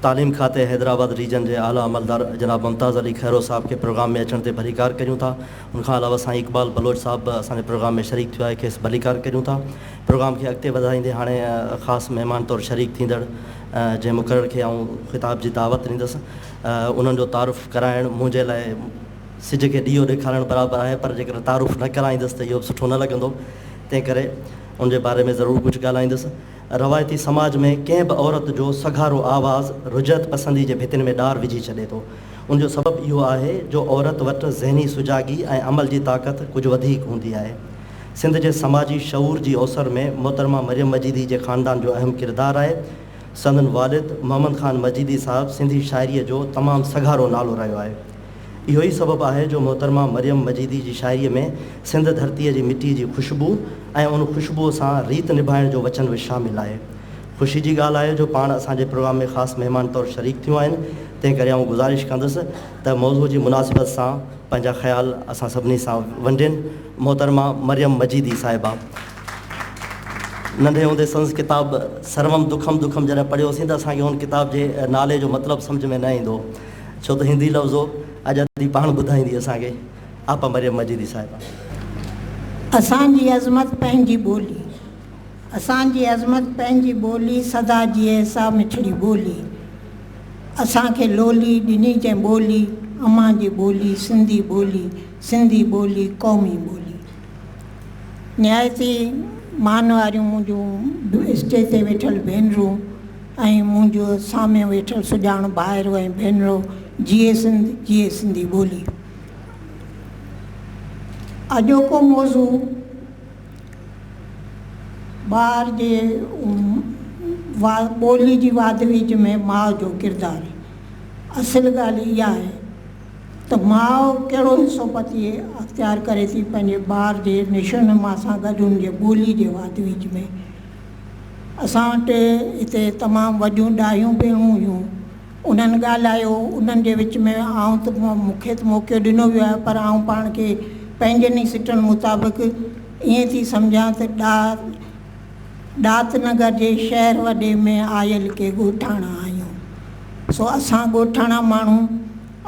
تعليم کاتي حيدرآباد ريجن جي اعليٰ عملدار جناب ممتاز علي کهرو صاحب کي پروگرام ۾ اچڻ تي ڀليڪار ڪريون ٿا. ان کان علاوه سائين اقبال بلوچ صاحب به اسان جي پروگرام ۾ شريڪ ٿيو آهي کيس ڀليڪار ڪريون ٿا. پروگرام کي اڳتي وڌائيندي هاڻي خاص مهمان طور شريڪ ٿيندڙ جنهن مقرر کي آئون خطاب جي دعوت ڏيندس. انهن جو تعارف ڪرائڻ منهنجي لاء سج کي ڏيئو ڏيکارڻ برابر آهي پر جيڪڏهن تعارف نه ڪرائيندس ته اهو به سٺو نه لڳندو تنهن ڪري ان جي باري ۾ ضرور ڪجهه ڳالهائيندس. روايتي سماج ۾ ڪنهن به عورت جو سگهارو آواز رجعت پسندي جي ڀتين ۾ ڏار وجهي ڇڏي ٿو. ان جو سبب اهو آهي جو عورت وٽ ذهني سجاڳي ۽ عمل جي طاقت ڪجهه وڌيڪ هوندي آهي. سنڌ جي سماجي شعور جي اوسر ۾ محترمه مريم مجيدي جي خاندان جو اهم ڪردار آهي. سندن والد محمد خان مجيدي صاحب سنڌي شاعريء جو تمام سگهارو نالو رهيو آهي. اهو ئي سبب آهي جو محترمه مريم مجيدي جي شاعريء ۾ سنڌ ڌرتيء جي مٽيء جي خوشبوء ۽ ان خوشبوء سان ريت نڀائڻ جو وچن به شامل آهي. خوشي جي ڳالهه آهي جو پاڻ اسان جي پروگرام ۾ خاص مهمان طور شريڪ ٿيون آهن، تنهن ڪري آئون گذارش ڪندس ته موضوع جي مناسبت سان پنهنجا خيال اسان سڀني سان ونڊين. محترمه مريم مجيدي صاحبه! ننڍي هوندي سندس ڪتاب سروم دکم دکم جڏهن پڙهيوسين ته اسان کي هن ڪتاب جي نالي جو مطلب سمجهه ۾ نه ايندو هو ڇو ته هندي لفظ هو اڄ ادي پاڻ ٻڌائيندي اسان کي آپا مريم مجيدي صاحبه. اسان جي عظمت پنهنجي ٻولي اسان جي عظمت پنهنجي ٻولي سدا جيئي سا مٺڙي ٻولي اسان کي لولي ڏني جنهن ٻولي امان جي ٻولي سنڌي ٻولي سنڌي ٻولي قومي ٻولي. نهايت ئي مان واريون منهنجون اسٽيج تي ويٺل ڀينرون ۽ منهنجو سامهون ويٺل سڄاڻ ڀائرو ۽ ڀينرو جيئي سنڌ جيئي سنڌي ٻولي. اڄوڪو موضوع ٻار جي ٻولي جي واڌ ويجهه ۾ ماء جو ڪردار اصل ڳالهه اها آهي ته ماء ڪهڙو حصو پتي اختيار ڪري ٿي پنهنجي ٻار جي نشو نما سان گڏ ان جي ٻولي جي واڌ ويجهه ۾. اسان وٽ هتي تمام وڏيون ڏاهيون ڀيڻون هيون. انهن ڳالهايو. انهن جي وچ ۾ آئون ته مون کي ته موقعو ڏنو ويو آهي پر آئون پاڻ کي پنهنجن ئي سٽن مطابق ائين ٿي سمجهان ته ڏاهه ڏات نگر جي شهر وڏي ۾ آيل ڪي ڳوٺاڻا آهيون، سو اسان ڳوٺاڻا ماڻهو،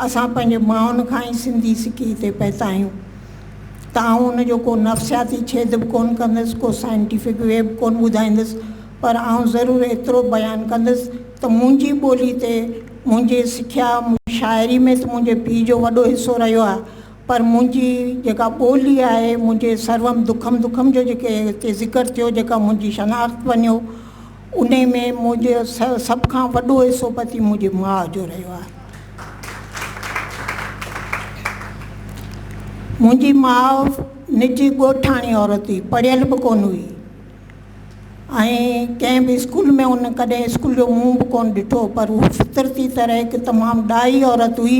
اسان پنهنجي مائن کان ئي سنڌي سکي هتي پهتا آهيون، ته آئون ان جو ڪو نفسياتي ڇيد به ڪونه ڪندس، ڪو سائنٽيفڪ وي به ڪونه ٻڌائيندس، پر آئون ضرور ايترو بيان ڪندس ته منهنجي ٻولي تي، منهنجي سکيا، شاعري ۾ ته منهنجي پيء جو وڏو حصو رهيو آهي، پر منهنجي جيڪا ٻولي آهي، منهنجي سرهم دکم دکم جو جيڪي هتي ذڪر ٿيو، جيڪا منهنجي شناخت بنيو، انهي ۾ منهنجي سڀ کان وڏو حصو پتي منهنجي ماء جو رهيو آهي. منهنجي ماء نجي ڳوٺاڻي عورت هئي، پڙهيل به ڪونه هئي. ۽ ڪنهن به اسڪول ۾ هن ڪڏهن اسڪول جو منهن به ڪونه ڏٺو پر هو فطرتي طرح هڪ تمام ڏاهي عورت هئي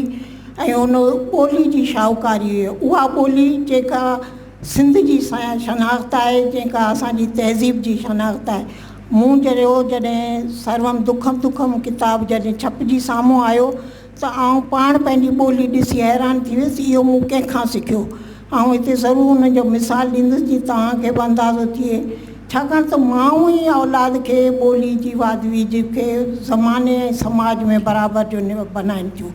۽ هن ٻولي جي شاهوڪاري هئي اها ٻولي جيڪا سنڌ جي شناخت آهي جيڪا اسانجي تهذيب جي شناخت آهي مون جهڙو جڏهن سرورم دکم دکم ڪتاب جڏهن ڇپجي سامهون آيو ته آئون پاڻ پنهنجي ٻولي ڏسي حيران ٿي ويس، اهو مون ڪنهن کان سکيو؟ آئون هتي ضرور انهن جو مثال ڏيندس جيئن توهان کي به اندازو ٿئي، ڇاڪاڻ ته ماء ئي اولاد کي ٻولي جي واڌ ويجهه کي زماني ۽ سماج ۾ برابر جو نيو بنائين ٿيون،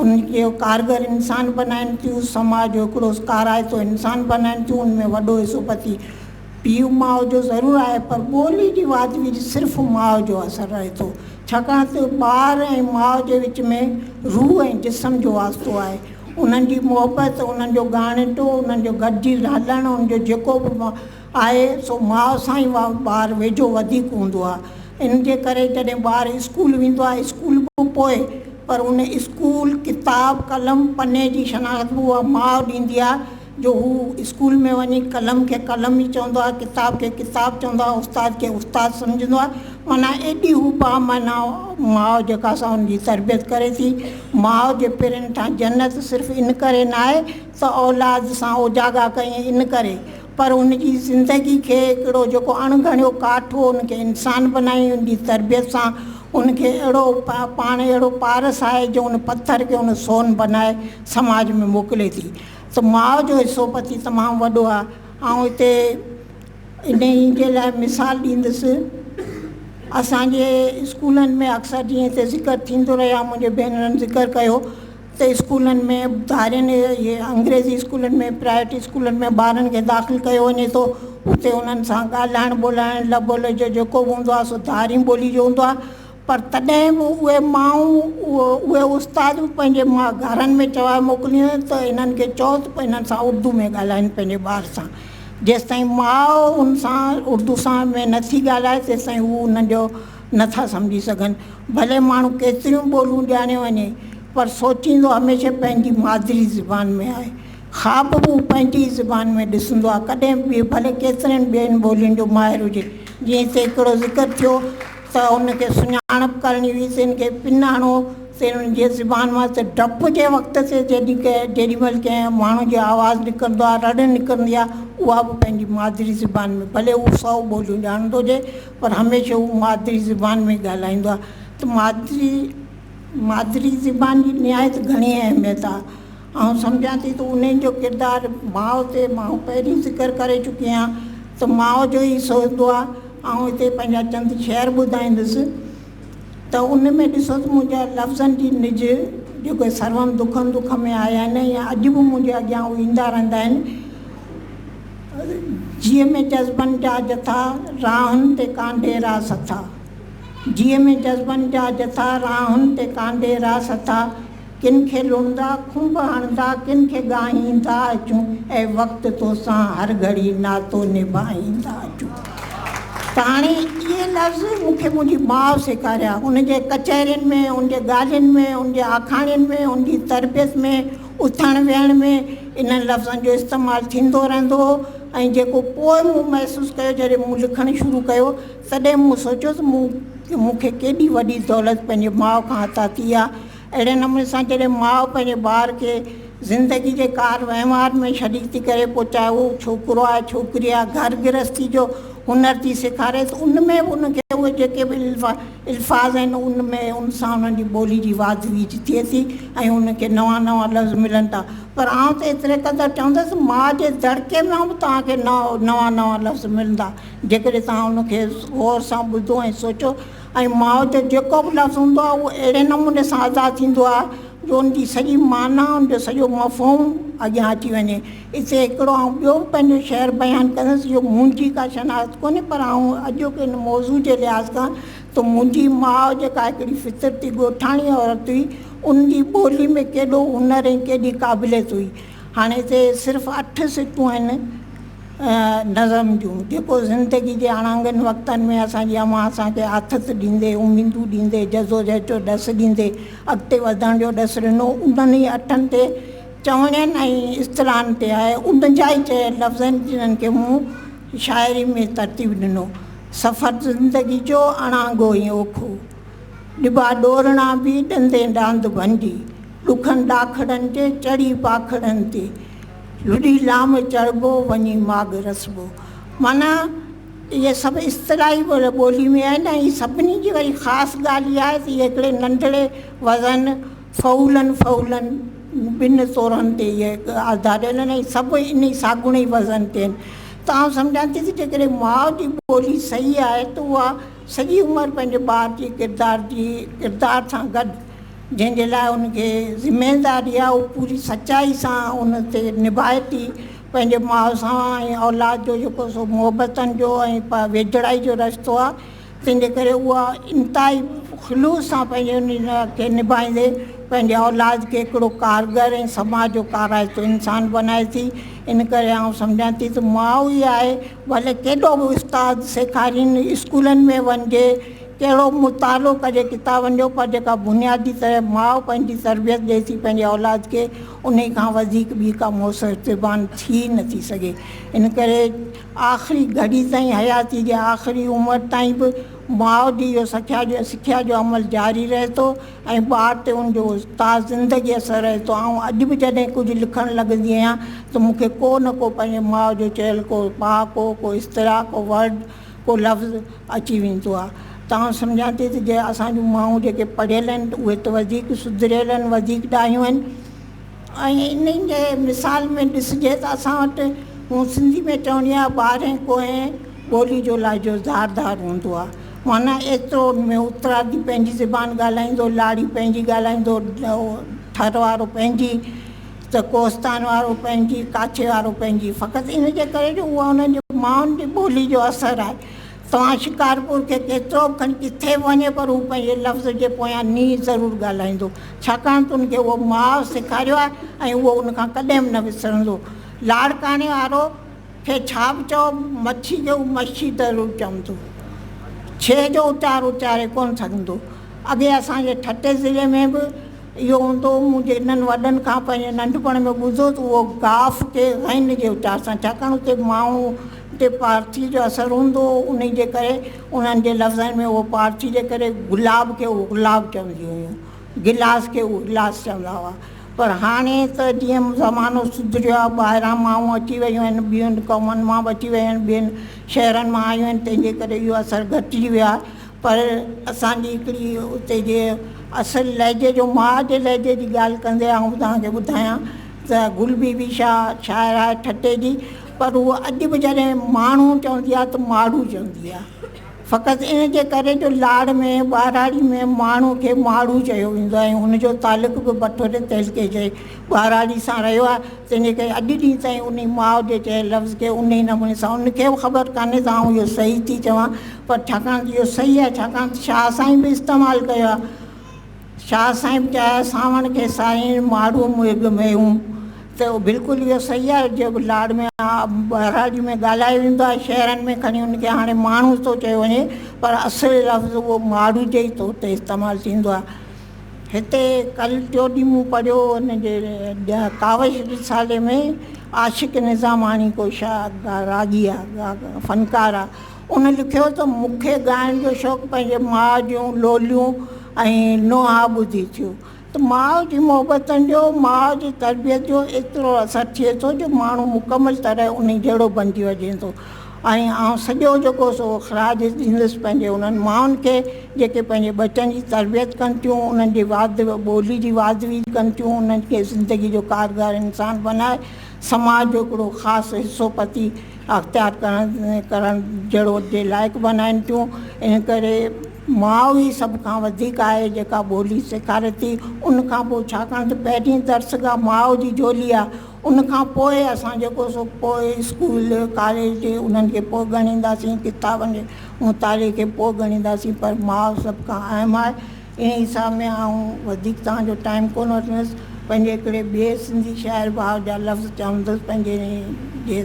ان کي ڪارگر انسان بنائين ٿيون، سماج جو هڪڙو ڪارائتو انسان بنائين ٿيون، ان ۾ وڏو حصو پتي. پيء ماء جو ضرور آهي پر ٻولي جي واڌ ويجهه صرف ماء جو اثر رهي ٿو ڇاڪاڻ ته ٻار ۽ ماء جي وچ ۾ روح ۽ جسم جو واسطو آهي انهن جي محبت انهن جو ڳاڻيٽو انهن جو گڏجي رلڻ ان جو جيڪو به آهي سو ماء سان ئي ٻار ويجهو وڌيڪ هوندو آهي ان جي ڪري جڏهن ٻار اسڪول ويندو آهي اسڪول به پوء پر ان اسڪول ڪتاب قلم پني جي شناخت به اها ماء ڏيندي آهي جو هو اسڪول ۾ وڃي قلم کي قلم ئي چوندو آهي، ڪتاب کي ڪتاب چوندو آهي، استاد کي استاد سمجهندو آهي، معنيٰ ايڏي هو بامعنيٰ ماء جيڪا سا هن جي تربيت ڪري ٿي. ماء جي پيرن ٺاهي جنت صرف ان ڪري ناهي ته اولاد سان اوجاڳا ڪيئي ان ڪري، پر هن جي زندگي کي هڪڙو جيڪو اڻ ڳڻيو ڪاٺ هو ان کي انسان بنائي، هن جي تربيت سان هن کي اهڙو پاڻ اهڙو پارس آهي جو هن پٿر کي هن سون بنائي سماج ۾ موڪلي ٿي. ته ماء جو حصو پتي تمام وڏو آهي. آئون هتي انهيء جي لاء مثال ڏيندس. اسان جي اسڪولن ۾ اڪثر جيئن هتي ذڪر ٿيندو رهيو آهي، منهنجي ڀينرن ذڪر ڪيو ته اسڪولن ۾ ڌارين اهي انگريزي اسڪولن ۾ پرائيويٽ اسڪولن ۾ ٻارن کي داخل ڪيو وڃي ٿو، اتي انهن سان ڳالهائڻ ٻولهائڻ لب و لهجو جيڪو به هوندو آهي سو ڌارين ٻولي جو هوندو آهي. پر تڏهن به اهي مائون، اهي استاد به پنهنجي گهرن ۾ چوائي موڪلينديون ته هنن کي چئو ته هنن سان اردو ۾ ڳالهائين پنهنجي ٻار سان. جيستائين ماء ان سان اردو سان ۾ نه ٿي ڳالهائي تيستائين هو انهن جو نه ٿا سمجهي سگهن. ڀلي ماڻهو ڪيتريون ٻوليون ڄاڻي وڃي پر سوچيندو هميشه پنهنجي مادري زبان ۾ آهي. خواب به هو پنهنجي ئي زبان ۾ ڏسندو آهي ڪڏهن به ڀلي ڪيترين ٻين ٻولين جو ماهر هجي. جيئن هتي هڪڙو ذڪر ٿيو ته ان کي سڃاڻپ ڪرڻي هئي، سين کي پنهاڻو، سين ان جي زبان مان ته ڊپ جي وقت سين جيڏي ڪنهن جيڏي مهل ڪنهن ماڻهو جي آواز نڪرندو آهي، رڙ نڪرندي آهي، اها به پنهنجي مادري زبان ۾، ڀلي هو سئو ٻوليون ڄاڻندو هجي، پر هميشه هو مادري زبان ۾ ئي ڳالهائيندو آهي، ته مادري مادري زبان جي نهايت گهڻي اهميت آهي. آئون سمجهان ٿي ته انهن جو ڪردار ماء تي ماڻهو پهرين ذڪر ڪري چڪي آهيان ته ماء جو ئي حصو هوندو آهي آئون هتي پنهنجا چند شعر ٻڌائيندس ته ان ۾ ڏسو ته منهنجا لفظن جي نج جيڪي سرون دکن دک ۾ آيا آهن يا اڄ به منهنجي اڳيان هو ايندا رهندا آهن جيء ۾ جذبن جا جٿا راهن تي ڪانڍي را سٿا جيء ۾ جذبن جا جٿا راهن تي ڪانڍي را سٿا ڪن کي لوڙھندا، کنڀ ھڻندا، ڪن کي ڳاھيندا اچون، اي وقت توسان ھر گھڙي ناتو نڀاھيندا اچون. ته ھاڻي اھي لفظ مون کي منھنجي ماء سيکاريا، ان جي ڪچھرين ۾، ان جي ڳالھين ۾، ان جي آکاڻين ۾، ان جي تربيت ۾، اٿڻ ويھڻ ۾، انھن لفظن جو استعمال ٿيندو رھندو ھو ۽ جيڪو پوء مون محسوس ڪيو جڏھن مون لکڻ شروع ڪيو، تڏهن مون سوچيو ته مون مون کي ڪيڏي وڏي دولت پنهنجي ماء کان عطا ٿي آهي. اهڙي نموني سان جڏهن ماء پنهنجي ٻار کي زندگي جي ڪار وهنوار ۾ شريڪ ٿي ڪري پوء چاهي اهو ڇوڪرو آهي ڇوڪري آهي گهر گرهستي جو هنر ٿي سيکاري ته ان ۾ به ان کي اهي جيڪي به الفاظ آهن ان ۾ ان سان انهن جي ٻولي جي واڌ ويجهه ٿئي ٿي ۽ ان کي نوان نوان لفظ ملن ٿا پر آئون ته ايتري قدر چوندس ماء جي دڙڪي مان به توهان کي نوان نوان لفظ ملندا. جيڪڏهن توهان ان کي غور سان ٻڌو ۽ سوچيو ۽ ماء جو جيڪو به لفظ هوندو آهي اهو اهڙي نموني سان ادا ٿيندو آهي جو ان جي سڄي معنيٰ ان جو سڄو مفهوم اڳيان اچي وڃي. اتي هڪڙو آئون ٻيو به پنهنجو شعر بيان ڪندس اهو منهنجي ڪا شناخت ڪونهي پر آئون اڄوڪي ان موضوع جي لحاظ کان ته منهنجي ماء جيڪا هڪڙي فطرتي ڳوٺاڻي عورت هئي ان جي ٻولي ۾ ڪيڏو هنر ۽ ڪيڏي قابليت هئي هاڻي هتي صرف اٺ سٽون آهن نظم جون، جيڪو زندگي جي اڻانگن وقتن ۾ اسان جي اوهان اسان کي آٿت ڏيندي، اميدون ڏيندي، جدوجهد جو ڏس ڏيندي، اڳتي وڌڻ جو ڏس ڏنو، انهن ئي اٺن تي چوڻين ۽ اصطلاحن تي آهي، انهن جا ئي چيل لفظ آهن، جنهن کي مون شاعري ۾ ترتيب ڏنو. سفر زندگي جو اڻانگو ۽ اوکو. ڏبا ڏورڻا به ڏندين ڏاند ڀنڊي ڏکن ڏاکڙن جي چڙهي پاکڙن تي لڏي لام چڙهبو وڃي ماڳ رسبو معنيٰ اهي سڀ اصطلاحي ٻولي ۾ آهن ۽ سڀني جي وري خاص ڳالهه اها آهي ته اهي هڪڙي ننڍڙي وزن فعولن فعولن ٻن طورن تي اهي آڌاريل آهن ۽ سڀ انهي ساڳوڻي وزن تي آهن ته آئون سمجهان ٿي ته جيڪڏهن ماء جي ٻولي صحيح آهي ته اها سڄي عمر پنهنجي ٻار جي ڪردار جي ڪردار سان گڏ جنهن جي لاء ان کي ذميداري آهي اهو پوري سچائي سان ان تي نڀائي ٿي پنهنجي ماء سان ۽ اولاد جو جيڪو سو محبتن جو ۽ ويجهڙائي جو رشتو آهي تنهن جي ڪري اها انتهائي خلوص سان پنهنجي ان کي نڀائيندي پنهنجي اولاد کي هڪڙو ڪارگر ۽ سماج جو ڪارائتو انسان بنائي ٿي ان ڪري آئون سمجهان ٿي ته ماء ئي آهي ڀلي ڪيڏو به استاد سيکارين، اسڪولن ۾ وڃجي، ڪهڙو به مطالعو ڪجي ڪتابن جو پر جيڪا بنيادي طرح ماء پنهنجي تربيت ڏئي ٿي پنهنجي اولاد کي انهي کان وڌيڪ ٻي ڪا موثر تربان ٿي نه ٿي سگهي ان ڪري آخري گهڙي تائين حياتي جي آخري عمر تائين به ماء جي اهو سکيا جو سکيا جو عمل جاري رهي ٿو ۽ ٻار تي ان جو تاج زندگي اثر رهي ٿو. آئون اڄ به جڏهن ڪجهه لکڻ لڳندي آهيان ته مون کي ڪو نه ڪو پنهنجي ماء جو چيل ڪو پهاڪو، ڪو اصطلاح، ڪو ورڊ، ڪو لفظ اچي ويندو آهي ته آئون سمجهان ٿي ته جي اسان جون مائون جيڪي پڙهيل آهن اهي ته وڌيڪ سڌريل آهن، وڌيڪ ڏاهيون آهن. ۽ انهن جي مثال ۾ ڏسجي ته اسان وٽ مون سنڌي ۾ چوڻي آهي ٻارهين ڪوهين ٻولي جو لهجو ڌار ڌار هوندو آهي معنيٰ ايترو ان ۾ اترادي پنهنجي زبان ڳالهائيندو لاڙي پنهنجي ڳالهائيندو ٿر وارو پنهنجي ته ڪوهستان وارو پنهنجي ڪاڇي وارو پنهنجي فقط ان جي ڪري جو اها انهن جي مائن جي ٻولي جو اثر آهي توهان شڪارپور کي ڪيترو به کڻي ڪٿي به وڃي پر هو پنهنجي لفظ جي پويان ني ضرور ڳالهائيندو ڇاڪاڻ ته هن کي اهو ماء سيکاريو آهي ۽ اهو ان کان ڪڏهن به نه وسرندو. لاڙڪاڻي وارو کي ڇا به چئو مڇي کي هو مشي ضرور چوندو. ڇي جو اچار اچاري ڪونه سگهندو. اڳي اسان جي ٺٽي ضلعي ۾ به اهو هوندو هو مون جي انهن وڏن کان پنهنجي ننڍپڻ ۾ ٻڌو ته اهو گاف کي غين جي اچار سان ڇاڪاڻ اتي ماڻهو تي پارٿي جو اثر هوندو هو انهي جي ڪري انهن جي لفظن ۾ اهو پارٿي جي ڪري گلاب کي اغلاب چونديون هيون گلاس کي اجلاس چوندا هئا پر هاڻي ته جيئن زمانو سڌريو آهي ٻاهران مائون اچي ويون آهن ٻين قومن مان به اچي ويون آهن ٻين شهرن مان آيون آهن تنهن جي ڪري اهو اثر گهٽجي ويو آهي پر اسانجي هڪڙي اتي جي اصل لهجي جو ماء جي لهجي جي ڳالهه ڪندي آئون توهان کي ٻڌايان ته گل بي بي شاهه شاعره آهي ٺٽي جي پر هوء اڄ به جڏهن ماڻهو چوندي آهي ته ماڙهو چوندي آهي. فقط ان جي ڪري جو لاڙ ۾ ٻهراڙي ۾ ماڻهو کي ماڙهو چيو ويندو آهي ۽ هن جو تعلق به بٺوري تعلقي جي ٻهراڙي سان رهيو آهي تنهن جي ڪري اڄ ڏينهن تائين انهي ماء جي چيل لفظ کي انهي نموني سان ان کي به خبر ڪانهي ته آئون اهو صحيح ٿي چوان پر ڇاڪاڻ ته اهو صحيح آهي ڇاڪاڻ ته شاهه سائين به استعمال ڪيو آهي. شاهه صاحب جا سانوڻ کي سائين ماڙهو مهڳ ميون ته بلڪل اهو صحيح آهي جو لاڙ ۾ ٻهراڙي ۾ ڳالهايو ويندو آهي شهرن ۾ کڻي ان کي هاڻي ماڻهو ٿو چيو وڃي پر اصل لفظ اهو ماڙهو جي ئي طور تي استعمال ٿيندو آهي هتي ڪل ٽيو ڏينهن مون پڙهيو ان جي ڪاوش رسالي ۾ عاشق نظاماڻي ڪو شاهه راڳي آهي فنڪار آهي هن لکيو ته مون کي ڳائڻ جو شوق پنهنجي ماء جون لوليون ۽ نوحا ٻڌي ٿيو ته ماء جي محبتن جو، ماء جي تربيت جو ايترو اثر ٿئي ٿو جو ماڻهو مڪمل طرح انهي جهڙو بنجي وڃي ٿو ۽ آئون سڄو جيڪو سو خراج ڏيندس پنهنجي انهن مائن کي جيڪي پنهنجي ٻچن جي تربيت ڪن ٿيون انهن جي واڌ ٻولي جي واڌ ويجھ ڪن ٿيون انهن کي زندگي جو ڪارگار انسان بنائي سماج جو هڪڙو خاص حصو پتي اختيار ڪرڻ جهڙو جي لائق بنائين ٿيون ان ڪري ماء ئي سڀ کان وڌيڪ آهي جيڪا ٻولي سيکاري ٿي ان کان پوء ڇاڪاڻ ته پهرين درسگاهه ماء جي جهولي آهي ان کان پوء اسان جيڪو سو پوء اسڪول ڪاليج انهن کي پوء ڳڻينداسين ڪتابن جي مطالعي کي پوء ڳڻينداسين پر ماء سڀ کان اهم آهي انهيء حساب ۾ آئون وڌيڪ توهان جو ٽائيم ڪونه وٺندس، پنهنجي هڪڙي ٻئي سنڌي شاعر ڀاء جا لفظ چوندس پنهنجي انهيء جي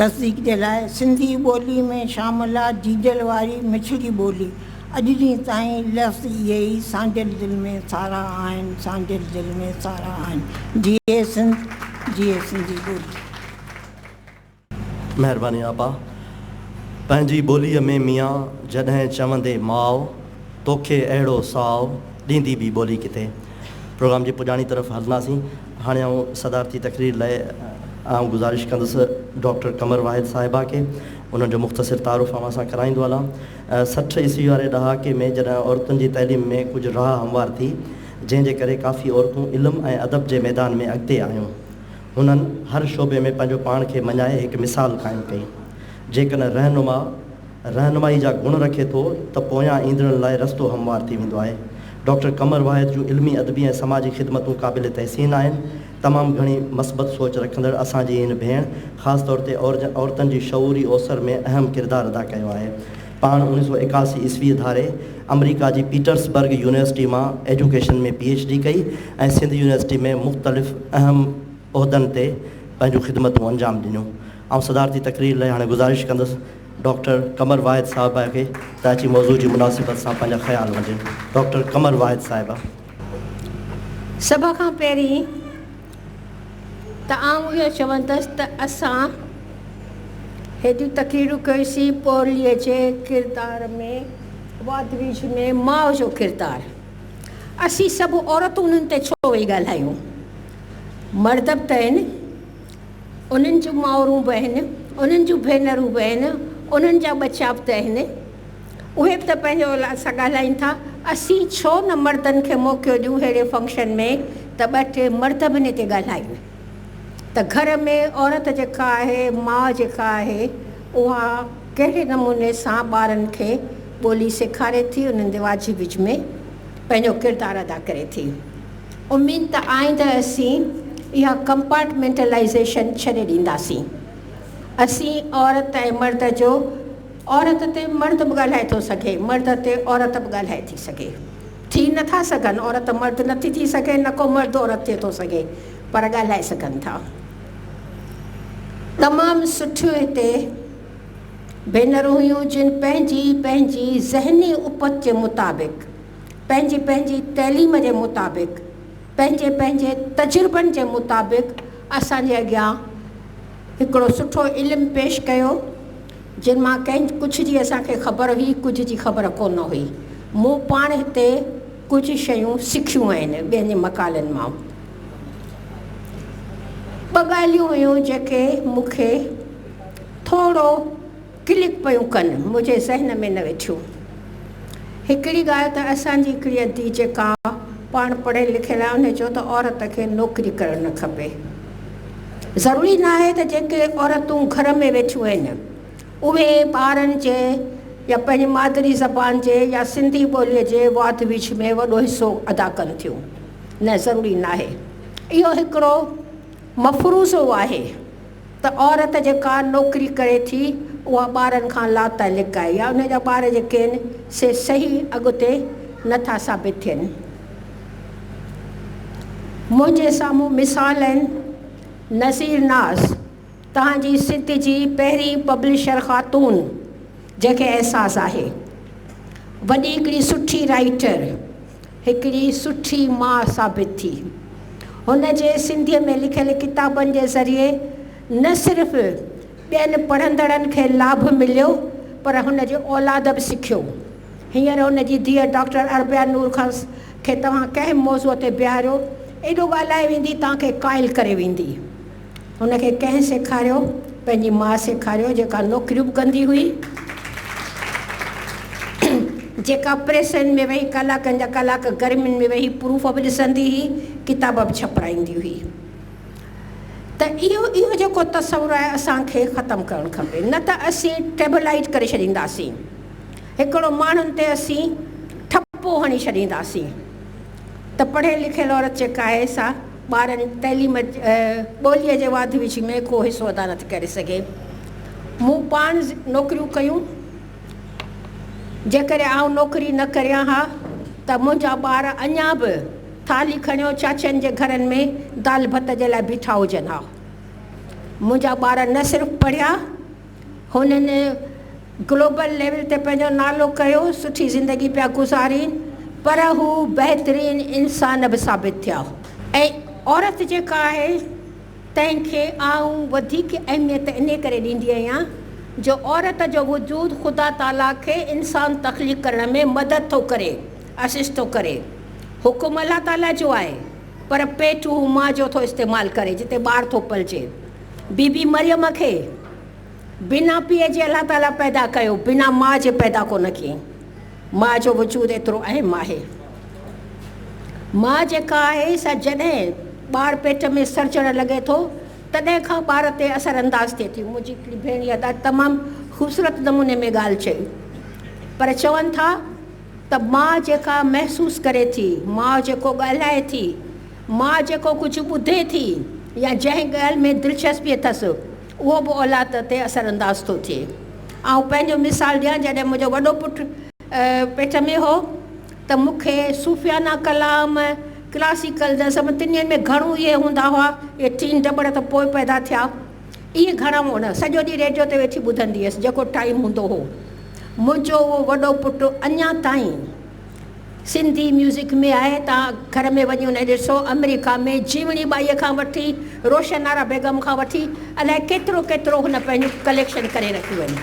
تصديق جي لاء، سنڌي ٻوليء ۾ شامل آ جيجل واري مٺڙي ٻولي، اڄ ڏينهن تائين لفظ اهي ئي سانڍيل دل ۾ سارا آهن، سانڍيل دل ۾ سارا آهن. جيئي سنڌ، جيئي سنڌي ٻولي. مهرباني آپا پنهنجي ٻوليء ۾ ميان جڏهن چوندي ماء توکي اهڙو ساء ڏيندي ٻي ٻولي ڪٿي. پروگرام جي پڄاڻي طرف هلنداسين هاڻي آئون صدارتي تقرير لئي آئون گذارش ڪندس ڊاڪٽر قمر واحد صاحبه کي انهن جو مختصر تعارف اوهان سان ڪرائيندو هلان سٺ عيسوي واري ڏهاڪي ۾ جڏهن عورتن جي تعليم ۾ ڪجهه راهه هموار ٿي جنهن جي ڪري ڪافي عورتون علم ۽ ادب جي ميدان ۾ اڳتي آيون هنن هر شعبي ۾ پنهنجو پاڻ کي مڃائي هڪ مثال قائم ڪئي. جيڪڏهن رهنما رهنمائي جا گڻ رکي ٿو ته پويان ايندڙن لاء رستو هموار ٿي ويندو آهي. ڊاڪٽر قمر واحد جون علمي، ادبي ۽ سماجي خدمتون قابل تحسين آهن. تمام گهڻي مثبت سوچ رکندڙ اسان جي هن ڀيڻ خاص طور تي عورتن جي شعوري اوسر ۾ اهم ڪردار ادا ڪيو آهي. پاڻ اوڻيھ سؤ ايڪاسي عيسويء ڌاري آمريڪا جي پيٽرس برگ يونيورسٽيء مان ايجوڪيشن ۾ پي ايڇ ڊي ڪئي ۽ سنڌ يونيورسٽيء ۾ مختلف اهم عهدن تي پنهنجون خدمتون انجام ڏنيون. آئون صدارتي تقرير لئي هاڻي گذارش ڪندس ڊاڪٽر قمر واحد صاحبه کي ته اچي موضوع جي مناسبت سان پنهنجا خيال ونڊين. ڊاڪٽر قمر واحد صاحبه. سڀ کان پهرين ته آئون اهو چوندس ته اسان هيڏيون تقريرون ڪيوسين پورليء جي ڪردار ۾، واڌ ويجهه ۾ ماء جو ڪردار، اسين سڀ عورتون انهن تي ڇو ويهي ڳالهايون؟ مرد به ته آهن، انهن جون مائرون به آهن، انهن جون ڀينرون به آهن، انهن جا ٻچا به ته آهن. اهي به ته پنهنجو اسان ڳالهائين ٿا اسين ڇو نه مردن کي موقعو ڏيون ههڙي فنڪشن ۾ ته ٻه ٽي مرد به نڪي ڳالهائين ته گهر ۾ عورت جيڪا آهي ماء جيڪا آهي اها ڪهڙي نموني سان ٻارن کي ٻولي سيکاري ٿي انهن جي واجهي وجهه ۾ پنهنجو ڪردار ادا ڪري ٿي اميد ته آئنده اسين اها ڪمپارٽمينٽلائيزيشن ڇڏي ڏينداسين اسين عورت ۽ مرد جو عورت تي مرد به ڳالهائي ٿو سگهي، مرد تي عورت به ڳالهائي ٿي سگهي. ٿي نه ٿا سگهن، عورت مرد نه ٿي ٿي سگهي، نه ڪو مرد عورت ٿي ٿو سگهي، پر ڳالهائي سگهن ٿا. تمام سٺيون هتي ڀينرون هيون، جن پنهنجي پنهنجي ذهني اپت جي مطابق، پنهنجي پنهنجي تعليم جي مطابق، پنهنجي پنهنجي تجربن جي مطابق اسان جي اڳيان هڪڙو سٺو علم پيش ڪيو، جن مان ڪنهن ڪجهه جي اسان کي خبر هئي، ڪجهه جي خبر ڪو نه هئي. مون پاڻ هتي ڪجهه شيون سکيون آهن، ٻين جي مقالن مان. ٻه ڳالهيون هيون جيڪي مون کي ٿورو ڪلڪ پيون ڪن، منهنجي ذهن ۾ نه ويٺيون. هڪڙي ڳالهه ته اسان جي هڪڙي ادي جيڪا پاڻ پڙهيل لکيل آهي ان چيو ته عورت کي نوڪري ڪرڻ نه کپي. ضروري ناهي ته جيڪي عورتون گهر ۾ ويٺيون آهن اهي ٻارن جي يا پنهنجي مادري زبان جي يا سنڌي ٻوليء جي واڌ ويجهه ۾ وڏو حصو ادا ڪن ٿيون نه ضروري ناهي اهو هڪڙو مفروضو آهي ته عورت جيڪا نوڪري ڪري ٿي اها ٻارن کان لاتعلق آهي يا ان جا ٻار جيڪي آهن سي صحيح اڳتي نٿا ثابت ٿين. منهنجي سامهون مثال آهن نذير ناز تهان جي سنڌ جي پهرين پبلشر خاتون جنهن کي احساس آهي وڏي هڪڙي سٺي رائيٽر هڪڙي سٺي ماء ثابت ٿي هن جي سنڌي ۾ لکيل ڪتابن جي ذريعي نه صرف ٻين پڙهندڙن کي لاڀ مليو پر هن جي اولاد به سکيو هينئر هن جي ڌيء ڊاڪٽر اربيا نور خلص کي توهان ڪنهن به موضوع تي بيهاريو، ايڏو ڳالهائي ويندي توهان کي قائل ڪري ويندي. هن کي ڪنهن سيکاريو؟ پنهنجي ماء سيکاريو، جيڪا نوڪريون به ڪندي هئي، جيڪا پريسن ۾ ويهي ڪلاڪن جا ڪلاڪ گرمين ۾ ويهي پروف به ڏسندي هئي، ڪتاب به ڇپرائيندي هئي. ته اهو اهو جيڪو تصور آهي اسان کي ختم ڪرڻ کپي، نه ته اسين ٽيبلائيٽ ڪري ڇڏينداسين. هڪڙو ماڻهن تي اسين ٺپو هڻي ڇڏينداسين ته پڙهيل لکيل عورت جيڪا آهي سا ٻارن جي تعليم ٻوليء جي واڌ ويجهه ۾ ڪو حصو ادا نٿي ڪري سگهي. مون پاڻ نوڪريون ڪيون، جيڪڏهن آئون نوڪري نه ڪريان ها ته منهنجا ٻار اڃا به ٿالهي کڻيو چاچين جي گهرن ۾ دال ڀت جي لاء بيٺا هجن ها. منهنجا ٻار نه صرف پڙهيا، هنن گلوبل ليول تي پنهنجو نالو ڪيو، سٺي زندگي پيا گذارين پر هو بهترين انسان به ثابت ٿيا ۽ عورت جيڪا آهي تنهن کي آئون وڌيڪ اهميت انهي ڪري ڏيندي آهيان جو عورت جو وجود خدا تعاليٰ کي انسان تخليق ڪرڻ ۾ مدد ٿو ڪري، Assist، ٿو ڪري. حڪم الله تعاليٰ جو آهي پر پيٽ هو ماء جو ٿو استعمال ڪري جتي ٻار ٿو پلجي. بي بي مريم کي بنا پيء جي الله تعاليٰ پيدا ڪيو، بنا ماء جي پيدا ڪو نه ڪيائين. ماء جو وجود ايترو اهم آهي. ماء جيڪا آهي سا جڏهن ٻار پيٽ ۾ سرجڻ لڳي ٿو تڏهن کان ٻار تي اثر انداز ٿئي ٿي. منهنجي هڪڙي ڀيڻيء تمام خوبصورت نموني ۾ ڳالهه چئي پر چون ٿا. ته ماء جيڪا محسوس ڪري ٿي، ماء جيڪو ڳالهائي ٿي، ماء جيڪو ڪجهه ٻڌي ٿي يا جنهن ڳالهه ۾ دلچسپي اٿس، اهو به اولاد تي اثر انداز ٿو ٿئي. آئون پنهنجو مثال ڏيان، جڏهن منهنجو وڏو پٽ پيٽ ۾ هو ته مون کي صوفيانه ڪلام، ڪلاسيڪل نظم تنهن ۾ گهڻو اهي هوندا هئا، اهي ٽين ٽٻڙ ته پوء پيدا ٿيا. اهي گهڻا مون نه، سڄو ڏينهن ريڊيو تي ويٺي ٻڌندي هيس، جيڪو ٽائيم هوندو هو. منهنجو اهو وڏو پٽ اڃا تائين سنڌي ميوزڪ ۾ آهي. توهان گهر ۾ وڃي انهي ڏسو، آمريڪا ۾ جيوڻي ٻائيء کان وٺي، روشن آرا بيگم کان وٺي، الائي ڪيترو ڪيترو هن پنهنجون ڪليڪشن ڪري رکيون آهن.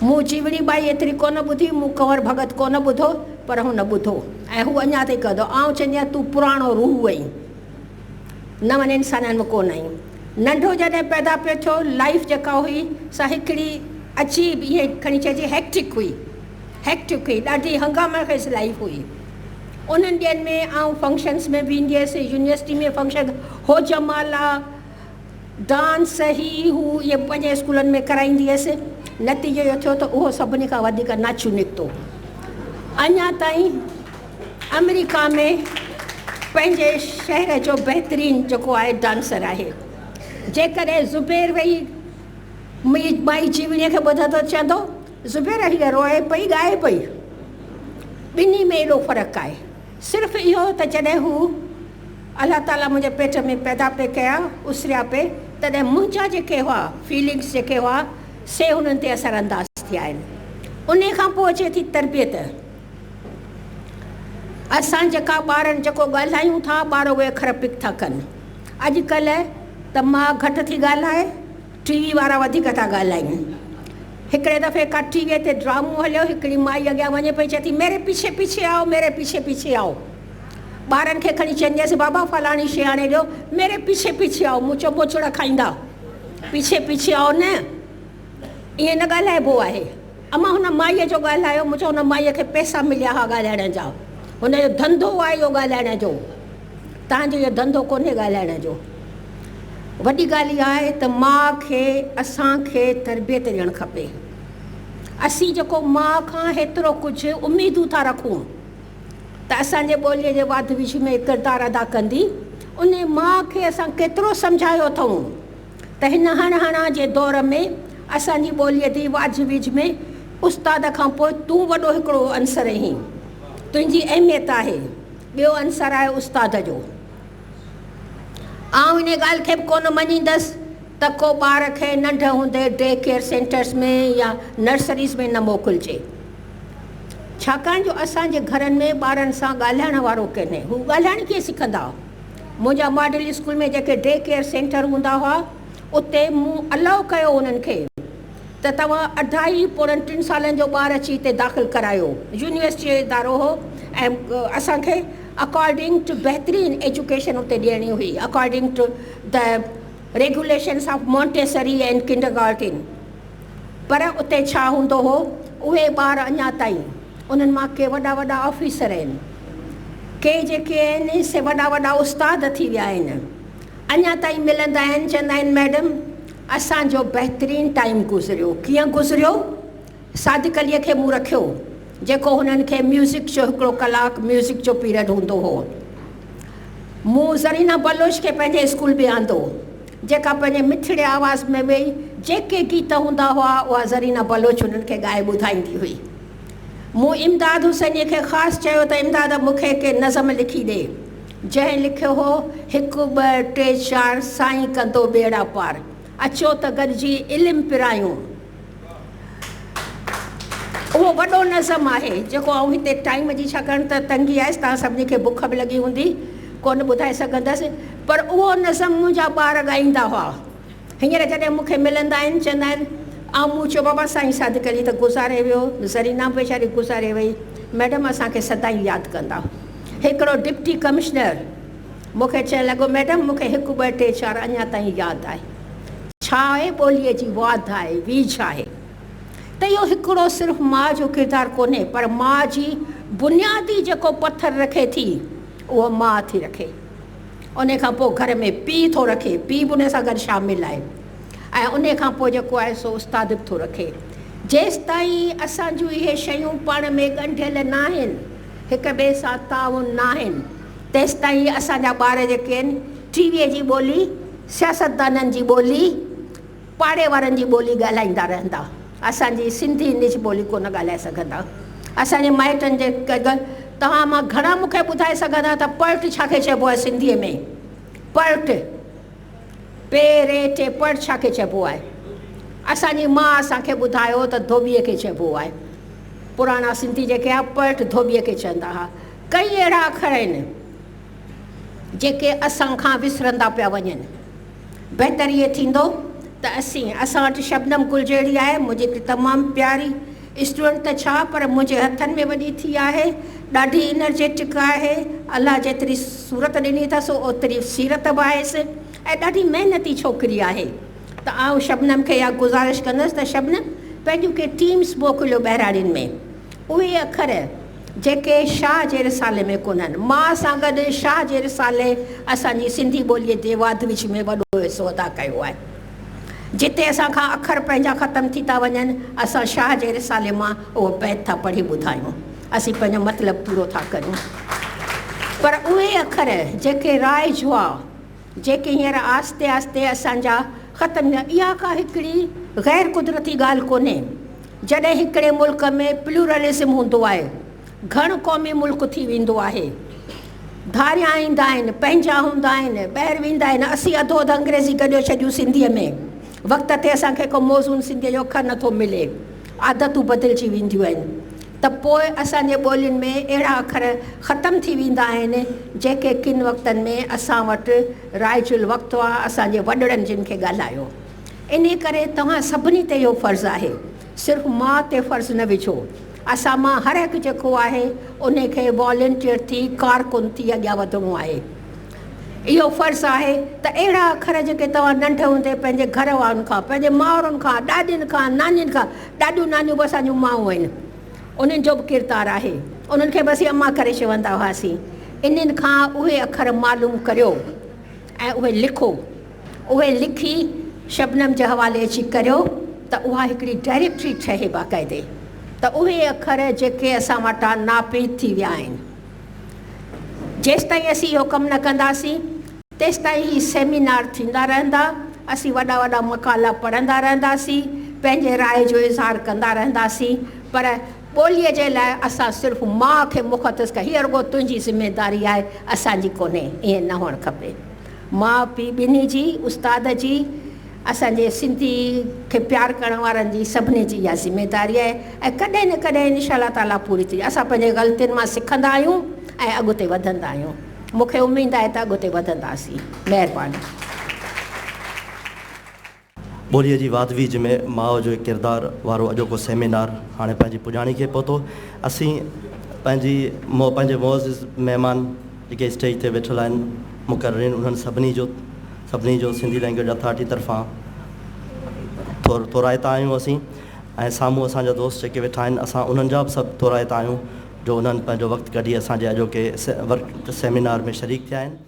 مون جيوڻي ٻائي ايتري ڪونه ٻڌي، مون ڪنور ڀڳت ڪونه ٻڌو، پر هن ٻڌو ۽ هو اڃا تائين ڪندو. آئون چوندي آهيان، تون پراڻو روح اهين. نون انسانن ۾ ڪونه آهيون. ننڍو جڏهن پيدا پيو ٿيو لائيف جيڪا هئي سا هڪڙي عجيب ائين کڻي چئجي هيڪٽڪ هئي هيڪٽڪ هئي ڏاڍي هنگامه خيز لائيف هئي انهن ڏينهن ۾ آئون فنڪشنس ۾ به ايندي هيس يونيورسٽي ۾ فنڪشن هو جمالا ڊانس هي هو اهي پنهنجي اسڪولن ۾ ڪرائيندي هيس. نتيجو اهو ٿيو ته اهو سڀني کان وڌيڪ ناڇيو نڪتو. اڃا تائين آمريڪا ۾ پنهنجي شهر جو بهترين جيڪو آهي ڊانسر آهي. جيڪڏهن زبير ويهي منهنجي مائي جيوڻيء کي ٻڌندو ته چوندو، زبير هيء روئي پئي ڳائي پئي. ٻنهي ۾ ايڏو فرق آهي. صرف اهو ته جڏهن هو، الله تعاليٰ، منهنجي پيٽ ۾ پيدا پئي ڪيا، اسريا پئي، تڏهن منهنجا جيڪي هئا، Feelings، جيڪي هئا، سي انهن تي اثر انداز ٿيا آهن. انهي کان پوء اچي ٿي تربيت. اسان جيڪا ٻارن جيڪو ڳالهايون ٿا، ٻار اهي اکر پڪ ٿا ڪن. اڄ ڪلهه ته ماء گهٽ ٿي ڳالهائي. ٽي وي وارا وڌيڪ ٿا ڳالهائين. هڪڙي دفعي ڪا ٽي وي تي ڊرامو هليو، هڪڙي مائي اڳيان وڃي پئي چئي ٿي ميري پيڇي پيڇي آئو ميري پيڇي پيڇي آئو. ٻارن کي کڻي چئنديس بابا فلاڻي شي آڻي ڏيو ميري پيڇي پيڇي آئو مون چيو ٻوچڙا کائيندا پيڇي پيڇي آئو نه ائين نه ڳالهائبو آهي. امان هن مائي جو ڳالهايو مون چيو هن مائي کي پئسا مليا ها ڳالهائڻ جا هن جو ڌنڌو آهي اهو ڳالهائڻ جو. تنهن جو اهو ڌنڌو ڪونهي ڳالهائڻ جو. وڏي ڳالهه اها آهي ته ماء کي اسان کي تربيت ڏيڻ کپي. اسين جيڪو ماء کان هيترو ڪجهه اميدون ٿا رکون ته اسان جي ٻوليء جي واڌ ويجهه ۾ ڪردار ادا ڪندي، انهي ماء کي اسان ڪيترو سمجهايو اٿئون ته هن هڻ هڻان جي دور ۾ اسان جي ٻوليء جي واجهه ويجهه ۾ استاد کان پوء تون وڏو هڪڙو عنصر اهين. تنهنجي اهميت آهي. ٻيو عنصر آهي استاد جو. آئون ان ڳالهه کي به ڪونه مڃيندس ته ڪو ٻار کي ننڍ هوندي ڊي ڪيئر سينٽرز ۾ يا نرسريز ۾ نه موڪلجي. ڇاڪاڻ جو اسان جي گهرن ۾ ٻارن سان ڳالهائڻ وارو ڪنهي. هو ڳالهائڻ ڪيئن سکندا؟ منهنجا ماڊل اسڪول ۾ جيڪي ڊي ڪيئر سينٽر هوندا هئا اتي مون الاء ڪيو انهن کي. ته توهان اڍائي پوڙهن ٽن سالن جو ٻار اچي هتي داخل ڪرايو. يونيورسٽيء جو ادارو هو ۽ اسان کي اڪارڊنگ ٽو بهترين ايجوڪيشن اتي ڏيڻي هئي، according to the regulations of Montessori and kindergarten. پر اتي ڇا هوندو هو، اهي ٻار اڃا تائين، انهن مان ڪي وڏا وڏا آفيسر آهن، ڪي جيڪي آهن سي وڏا وڏا استاد ٿي ويا آهن، اڃا تائين ملندا آهن، چوندا آهن ميڊم! اسان جو بهترين ٽائيم گذريو. ڪيئن گذريو؟ صادق عليء کي مون رکيو، جيڪو هنن کي ميوزڪ جو هڪڙو ڪلاڪ ميوزڪ جو پيرڊ هوندو هو. مون زرينه بلوچ کي پنهنجي اسڪول به آندو، جيڪا پنهنجي مٺڙي آواز ۾ ويئي جيڪي گيت هوندا هئا، اها زرينه بلوچ هنن کي ڳائي ٻڌائيندي هئي. مون امداد حسينيء کي خاص چيو ته امداد مون کي ڪي نظم لکي ڏي. جنهن لکيو هو، هڪ ٻه ٽي چار سائين ڪندو ٻيڙا پار، اچو ته گڏجي علم پرايون. اهو وڏو نظم آهي جيڪو آئون هتي ٽائيم جي ڇاڪاڻ ته تنگي آهي، توهان سڀني کي بک به لڳي هوندي، ڪونه ٻڌائي سگهندس، پر اهو نظم منهنجا ٻار ڳائيندا هئا. هينئر جڏهن مون کي ملندا آهن، چوندا آهن، آئون مون چيو، بابا سائين صادق علي ته گذاري ويو، زرينا به ويچاري گذاري وئي، ميڊم اسان کي سدائين ياد ڪندا. هڪڙو ڊپٽي ڪمشنر مون کي چئڻ لڳو، ميڊم مون کي هڪ ٻه ٽي چار اڃا تائين ياد آهي. ڇا آهي ٻوليء جي واڌ آهي، ويجهه آهي ته اهو هڪڙو صرف ماء جو ڪردار ڪونهي پر ماء جي بنيادي جيڪو پٿر رکي ٿي اهو ماء ٿي رکي. انهي کان پوء گهر ۾ پيء ٿو رکي، پيء به انهي سان گڏ شامل آهي ۽ انهي کان پوء جيڪو آهي سو استاد به ٿو رکي. جيستائين اسان جون اهي شيون پاڻ ۾ ڳنڍيل ناهن، هڪ ٻئي سان تعاون ناهن، تيستائين اسان جا ٻار جيڪي آهن ٽي ويء جي ٻولي، سياستدانن جي ٻولي، پاڙي وارن جي ٻولي ڳالهائيندا رهندا، اسان جي سنڌي نج ٻولي ڪونه ڳالهائي سگهندا. اسان جي مائٽن جي ڪڳ توهان مان گهڻا مون کي ٻڌائي سگهندا ته پڙٽ ڇا کي چئبو آهي سنڌيء ۾؟ پڙٽ، پ ر ٽ، پڙٽ ڇا کي چئبو آهي؟ اسان جي ماء اسان کي ٻڌايو ته ڌوٻيء کي چئبو آهي. پراڻا سنڌي جيڪي ها پڙٽ ڌوٻيء کي چئندا ها. ڪئين اهڙا اکر آهن، جيڪي اسان کان وسرندا پيا وڃن. بهتر اهي ٿيندو ته اسين اسان وٽ شبنم گل جهڙي آهي منهنجي ته تمام پياري اسٽوڊنٽ ته ڇا پر منهنجي هٿن ۾ وڏي ٿي آهي ڏاڍي انرجيٽڪ آهي الله جيتري صورت ڏني اٿس اوتري سيرت به آهيس ۽ ڏاڍي محنتي ڇوڪري آهي ته آئون شبنم کي اها گذارش ڪندس ته شبنم پنهنجون ڪي ٽيمس موڪليو ٻهراڙين ۾ اهي اکر جيڪي شاهه جي رسالي ۾ ڪونهن. مان سان گڏ شاهه جي رسالي اسان جي سنڌي ٻوليء جي واڌ ويجهه ۾ وڏو حصو ادا ڪيو آهي. جتي اسان کان اکر پنهنجا ختم ٿي ٿا وڃن، اسان شاهه جي رسالي مان اهو بيت ٿا پڙهي ٻڌايون. اسين پنهنجو مطلب پورو ٿا ڪريون. پر اهي اکر جيڪي راء جوا، جيڪي هينئر آهستي آهستي اسان جا ختم ٿيا اها ڪا هڪڙي غير قدرتي ڳالهه ڪونهي جڏهن هڪڙي ملڪ ۾ پلورلزم هوندو آهي گهڻ قومي ملڪ ٿي ويندو آهي ڌاريان ايندا آهن پنهنجا هوندا آهن ٻهر ويندا آهن اسين اڌو اڌ انگريزي گڏيو ڇڏيون سنڌي ۾ وقت تي اسان کي ڪو موزون سنڌي جو اکر نٿو ملي عادتون بدلجي وينديون آهن ته پوء اسان جي ٻولين ۾ اهڙا اکر ختم ٿي ويندا آهن، جيڪي ڪن وقتن ۾ اسان وٽ رائج الوقت هئا، اسان جي وڏڙن جن کي ڳالهايو. انهي ڪري توهان سڀني تي اهو فرض آهي. صرف ماء تي فرض نه وجهو. اسان مان هر هڪ جيڪو آهي، انهي کي والنٽيئر ٿي، ڪارڪن ٿي اڳيان وڌڻو آهي. اهو فرض آهي ته اهڙا اکر جيڪي توهان ننڍ هوندي پنهنجي گهر وارن کان، پنهنجي مائرن کان، ڏاڏين کان، نانين کان، ڏاڏيون نانيون به اسان جون مائون آهن، انهن جو به ڪردار آهي، انهن کي به اسين اما ڪري چوندا هئاسين، انهن کان اهي اکر معلوم ڪريو ۽ اهي لکو، اهي لکي شبنم جي حوالي اچي ڪريو ته اها هڪڙي ڊائريڪٽري ٺهي باقاعدي ته اهي اکر جيڪي اسان وٽان ناپيد ٿي ويا آهن. جيستائين اسين اهو ڪم نه ڪنداسين تيستائين هي سيمينار ٿيندا رهندا، اسين وڏا وڏا مقالا پڙهندا رهنداسين، پنهنجي راء جو اظهار ڪندا رهنداسين پر ٻوليء جي لاء اسان صرف ماء کي مختص ڪيو هي رڳو تنهنجي ذميداري آهي اسان جي ڪونهي، ائين نه هئڻ کپي ماء پيء ٻنهي جي، استاد جي. اسان جي سنڌي کي پيار ڪرڻ وارن جي سڀني جي اها ذميداري آهي ۽ ڪڏهن نه ڪڏهن ان شاء الله تعاليٰ پوري ٿيندي. اسان پنهنجي غلطين مان سکندا آهيون ۽ اڳتي وڌندا آهيون. مون کي اميد آهي ته اڳتي وڌنداسين. مهرباني. ٻوليء جي واڌ ويجهه ۾ ماء جو هڪ ڪردار وارو اڄوڪو سيمينار هاڻي پنهنجي پڄاڻي کي پهتو. اسين پنهنجي پنهنجي معزز مهمان. جيڪي اسٽيج تي ويٺل آهن مقررين انهن سڀني جو سڀني جو سنڌي لينگويج اٿارٽي طرفان ٿورائتا آهيون اسين ۽ سامهون اسان جا دوست جيڪي ويٺا آهن اسان انهن جا به سڀ ٿورائتا آهيون جو انهن پنهنجو وقت ڪڍي اسان جي اڄوڪي ورڪ سيمينار ۾ شريڪ ٿيا آهن.